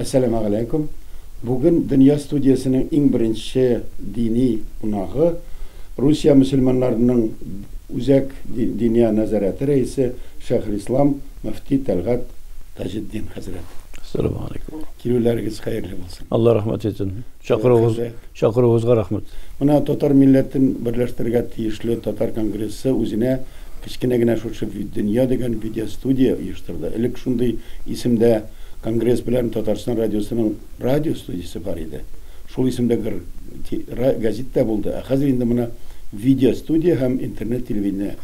Әссәламә галәйкүм. Бүген Дөнья студиясенең иң беренче дини кунагы, Русия мөселманнарының Үзәк диния нәзарәте рәисе Шәйхелислам мөфти Тәлгать Таҗетдин хәзрәт. Әссәламү алейкүм. Килүләрегез хәерле булсын. Алла рәхмәт итсен. Чакыруыгыз, чакыруыгызга рәхмәт. Менә татар милләтен берләштерергә тиешле татар конгрессы үзенә кечкенә генә шушы Виддөнья дигән видеостудия оештырды. Элек шундый исемдә конгресс белән Татарстан радиосының радио студиясе бар иде. Шул исемдә гр ти ра газит тә булды, ә хәзер инде менә видеостудия һәм интернет телевидение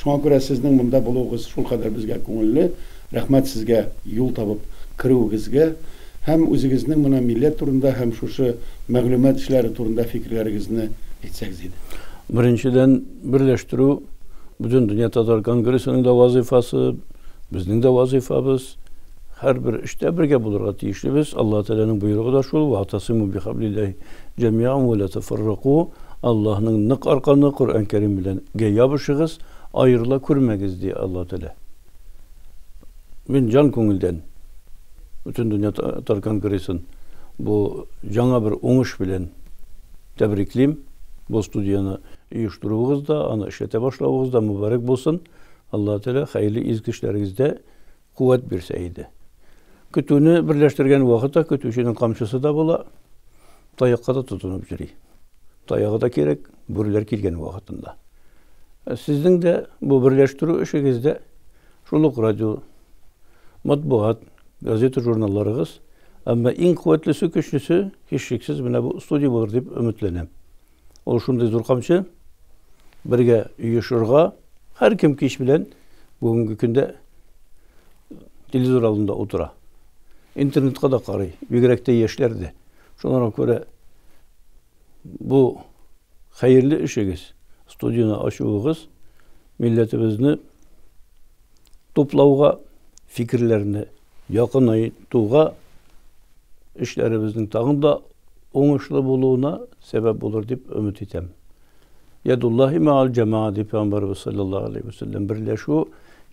Шуңа күрә сезнең монда булуыгыз шулкадәр безгә күңелле. Рәхмәт сезгә юл табып керүегезгә һәм үзегезнең моны милләт турында һәм шушы мәгълүмат эшләре турында фикерләрегезне әйтсәгез иде. Беренчедән, берләштерү, Бөтендөнья татар конгрессының да вазыйфасы, безнең дә вазыйфабыз. Һәрбер эштә бергә булырга тиешлебез, Аллаһ Тәгаләнең боерыгы да шул, Ваатасыйму бихаблилләһи җәмиәән вә лә тәфәррәку, Аллаһның нык арканы, Коръән Кәрим белән, гә ябышыгыз, аерыла күрмәгез, ди Аллаһ Тәгалә. Мин җан күңелдән Бөтендөнья татар конгрессын бу яңа бер уңыш белән тәбриклим. Бу студияне оештыруыгыз да, аны эшләтә башлавыгыз да мөбарәк булсын. Аллаһ Тәгалә хәерле изге эшләрегездә Куәт бирсә иде. Көтүне берләштергән вакытта көтүченең камчысы да була, таякка да тотынып йөри. Таягы да кирәк, бүреләр килгән вакытында. Ә сезнең дә бу берләштерү эшегездә шул ук радио, матбугат, газета журналларыгыз, әмма иң куәтлесе, көчлесе, һичшиксез, менә бу студия булыр дип өметләнәм. Ул шундый зур камчы, бергә оешырга, һәркем кич белән бүгенге көндә телевизор алдында утыра. Интернетка да карый, бигрәк тә яшьләр дә. Шуңа күрә бу хәерле эшегез, студияне ачуыгыз милләтебезне туплауга, фикерләрне Якыный туга эшләребезнең тагын да уңышлы булуына сәбәп булыр дип өмет итәм. Ядуллаһи маал җәмаа дип Пәйгамбәребез салләллаһу алейһи вә сәлләм берләшү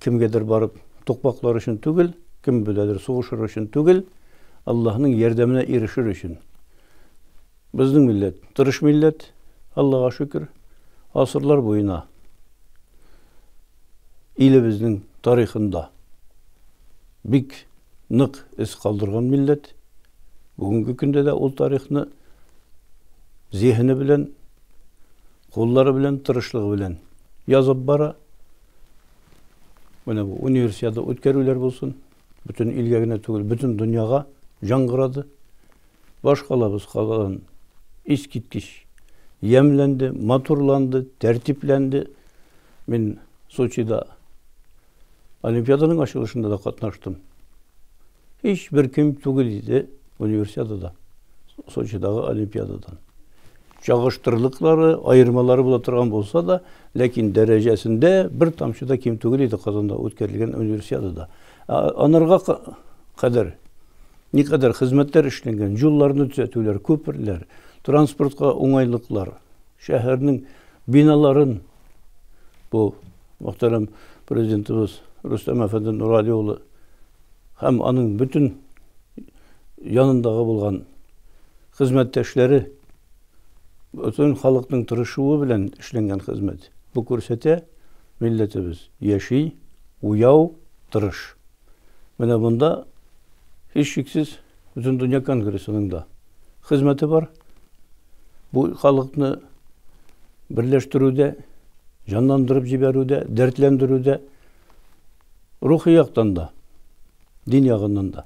кемгәдер барып тукмаклар өчен түгел, кем беләдер сугышыр өчен түгел, Аллаһның ярдәменә ирешер өчен. Безнең милләт тырыш милләт, Аллага шөкер. Гасырлар буена илебезнең тарихында бик нык эз калдырган милләт. Бүгенге көндә дә ул тарихны зиһене белән, куллары белән, тырышлыгы белән язып бара. Менә бу универсиада үткәрүләр булсын, Бөтен илгә генә түгел, бөтен дөньяга яңгырады. Башкалабыз калган искиткеч ямьләнде, матурланды, тәртипләнде. Мин Сочида олимпиаданың ачылышында да катнаштым. Һичбер ким түгел иде универсиадада, Сочидагы олимпиададан. Чагыштырлыклары, аермалары була торган булса да, ләкин дәрәҗәсендә бер тамчы да ким түгел иде Казанда үткәрелгән Универсиадада. Ә анарга кадәр никадәр хезмәтләр эшләнгән, юлларны төзәтүләр, күперләр, транспортка уңайлыклар, шәһәрнең биналарын бу мөхтәрәм президентыбыз Рөстәм әфәнде Нурали улы һәм аның бөтен янындагы булган Хезмәттәшләре, бөтен халыкның тырышуы белән эшләнгән хезмәт. Бу күрсәтә, милләтебез яши, уяу, тырыш. Менә монда, һичшиксез, Бөтендөнья конгрессының да хезмәте бар. Бу халыкны берләштерүдә, җанландырып җибәрүдә, дәртләндерүдә, рухи яктан да, дин ягыннан да.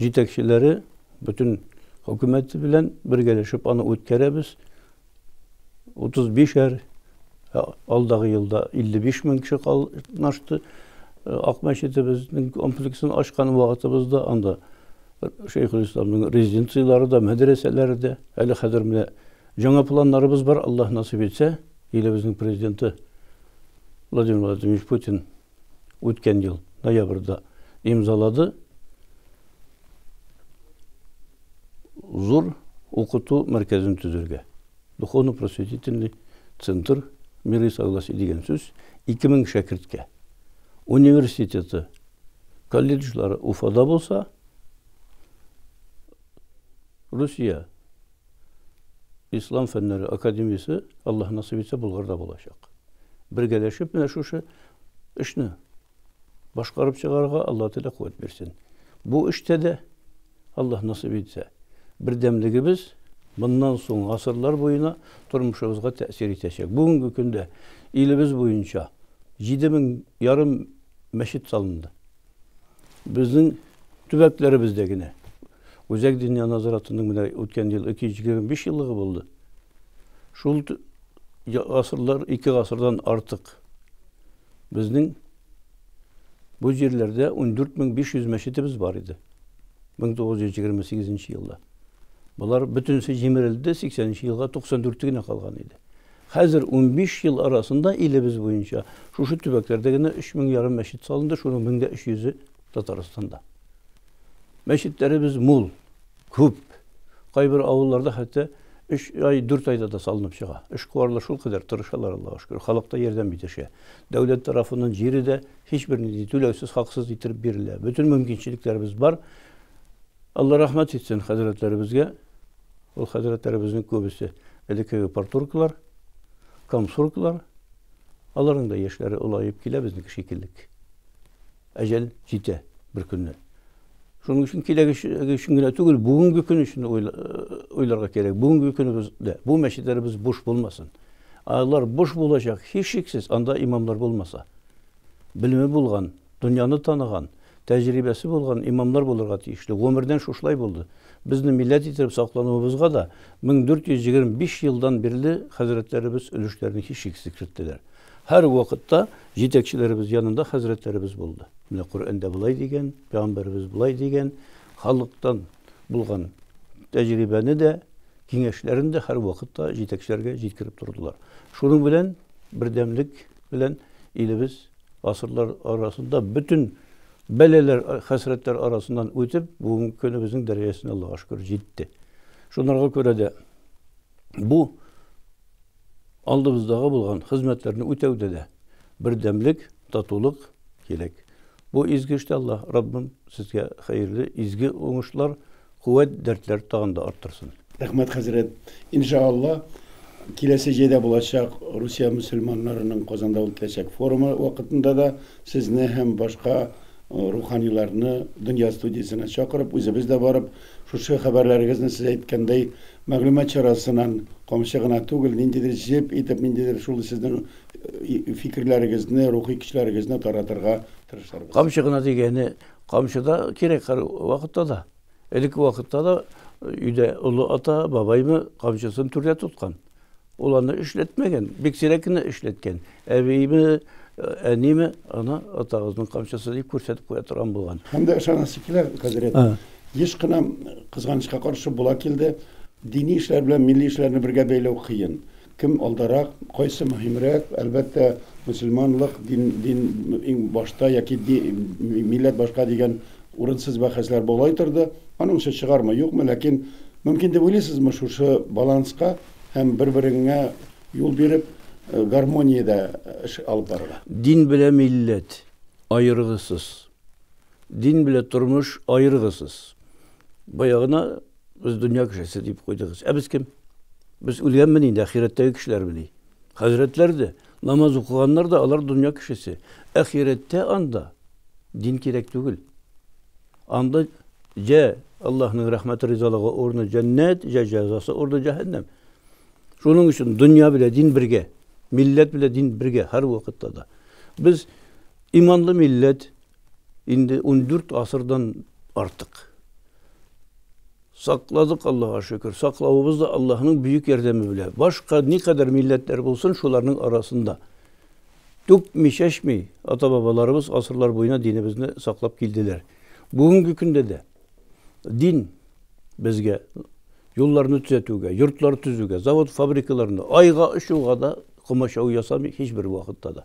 җитәкчеләре бөтен хөкүмәте белән бергәләшеп аны үткәрәбез. 35-әр ә, алдагы елда 55 мең кеше катнашты. Э, Ак мәчетебезнең комплексын ачкан вакытыбызда анда Шәйхелисламның резиденцияләре дә, мәдрәсәләре дә. Әле хәзер менә жаңа планнарыбыз бар, Аллаһ насыйп итсә, илебезнең президенты Владимир Владимирович Путин үткән ел ноябрьдә имзалады. Зур укыту мәркәзен төзергә. Духовно-просветительный центр, мир и согласие дигән сүз, 2000 шәкерткә. Университеты, колледжлары Уфада булса, Русия Ислам фәннәре академиясе, Аллаһ насыйп итсә, Болгарда булачак. Бергәләшеп менә шушы эшне башкарып чыгарга Аллаһ Тәгалә куәт бирсен. Бу эштә дә Аллаһ насыйп итсә, бердәмлегебез моннан соң гасырлар буена тормышыбызга тәэсир итәчәк. Бүгенге көндә илебез буенча 7 мең ярым мәчет салынды. Безнең төбәкләребездә генә Үзәк дөнья назаратының менә үткән ел 225 еллыгы булды. Шул гасырлар, ике гасырдан артык безнең бу җирләрдә 14500 мәчетебез бар иде. 1928 елда. Болар бөтенесе җимерелде, 80 елга 94 генә калган иде. Хәзер унбиш ел арасында илебез буенча шушы төбәкләрдә генә өч мең ярым мәчет салынды, шуның мең дә өч йөзе Татарстанда. Мәчетләребез мул, күп. Кайбер авылларда хәтта өч ай, дүрт айда да салынып чыга. Эшкуарлар шулкадәр тырышалар, Аллага шөкер, халык та ярдәм итешә. Дәүләт тарафыннан җире дә һичбернинди түләүсез, хаксыз иттереп бирелә. Бөтен мөмкинчелекләребез бар. Алла рәхмәт итсен хәзрәтләребезгә. Ул хәзрәтләребезнең күбесе элеккеге портуркалар, комсуркалар. Аларның да яшьләре олаеп килә безнеке шикеллек. Әҗәл җитә бер көнне. Шуның өчен киләге өчен генә түгел, бүгенге көн өчен уйларга э, кирәк. Бүгенге көнебездә бу мәчетләребез буш булмасын. Алар буш булачак, һичшиксез, анда имамлар булмаса. Белеме булган, Дөньяны таныган, тәҗрибәсе булган имамнар булырга тиешле. Гомердән шушылай булды. Безне милләт иттереп саклануыбызга да 1425 елдан бирле хәзрәтләребез өлешләрен һичшиксез керттеләр. Һәрвакытта җитәкчеләребез янында хәзрәтләребез булды. Менә Коръәндә болай дигән, пәйгамбәребез болай дигән, халыктан булган тәҗрибәне дә, киңәшләрен дә һәрвакытта җитәкчеләргә җиткереп тордылар. Шуның белән бердәмлек белән илебез Гасырлар арасында бөтен бәләләр, хәсрәтләр арасыннан үтеп, бүгенге көнебезнең дәрәҗәсенә Аллага шөкер җитте. Шунарга күрә дә бу алдыбыздагы булган хезмәтләрне үтәүдә дә бердәмлек, татулык кирәк. Бу изге эштә Аллаһ Раббым сезгә хәерле, изге уңышлар, Куәт дәртләр тагын да арттырсын. Рәхмәт хәзрәт. Инша Алла, киләсе җәйдә булачак Русия мөселманнарының Казанда үтәчәк форумы вакытында да сезне һәм башка руханиларны Дөнья студиясенә чакырып, үзебез дә барып, шушы хәбәрләрегезне сез әйткәндәй, мәгълүмат чарасынан камчы гына түгел, ниндидер җеп итеп, ниндидер шул сезнең фикерләрегезне, рухи көчләрегезне таратырга тырышырбыз. Камчы гына дигәне Камчы да кирәк һәр вакытта да. Элекке вакытта да өйдә олы ата, бабаймы камчысын түрдә тоткан. Ул аны эшләтмәгән, бик сирәк кенә эшләткән. Әбиеме, әниеме ана атагызның камчысы дип күрсәтеп куя торган булган. Һәм дә ышанасы килә, хәзрәт. Еш кына, кызганычка каршы, була килде, дини эшләр белән милли эшләрне бергә бәйләү кыен. Кем алдарак, кайсы мөһимрәк? Әлбәттә, мөселманлык, дин, дин иң башта яки ди, милләт башка дигән урынсыз бәхәсләр болай торды. Аның эше чыгармы, юкмы, ләкин мөмкин дип уйлыйсызмы шушы баланска һәм бер-береңә юл биреп, гармониядә эш алып барырга? Дин белән милләт аерыгысыз. Дин белән тормыш аерыгысыз. Бая гына Без дөнья кешесе дип куйдыгыз. Ә без кем? Без үлгәнме инде, ахирәттәге кешеләрме ни? Хәзрәтләр дә, намаз укыганнар да, алар дөнья кешесе. Ахирәттә анда дин кирәк түгел. Анда җә Аллаһның рәхмәте ризалыгы урыны җәннәт, җә җәзасы урыны җәһәннәм. Шуның өчен дөнья белән дин бергә, милләт белән дин бергә һәр вакытта да. Без иманлы милләт, Инде ундүрт гасырдан артык сакладык, Аллага шөкер. Саклавыбыз да Аллаһның бөек ярдәме белә. Башка никадәр милләтләр булсын, шуларның арасында түкми, чәчми, ата-бабаларыбыз гасырлар буена динебезне саклап килделәр. Бүгенге көндә дә дин безгә юлларны төзәтүгә, йортлар төзүгә, завод-фабрикаларны, айга очуга да комачау ясамый һичбер вакытта да.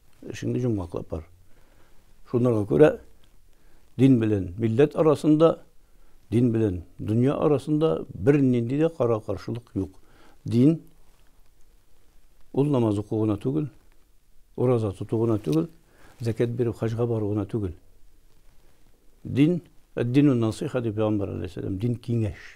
Эшеңне җомгаклап бар. Шунларга күрә дин белән милләт арасында, дин белән дөнья арасында бер нинди дә кара каршылык юк. Дин ул намаз уку гына түгел, ураза тоту гына түгел, зәкәт бирү, хаҗга бару гына түгел. Дин, дину насыйха дип пәйгамбәр алейһиссәлам, дин киңәш.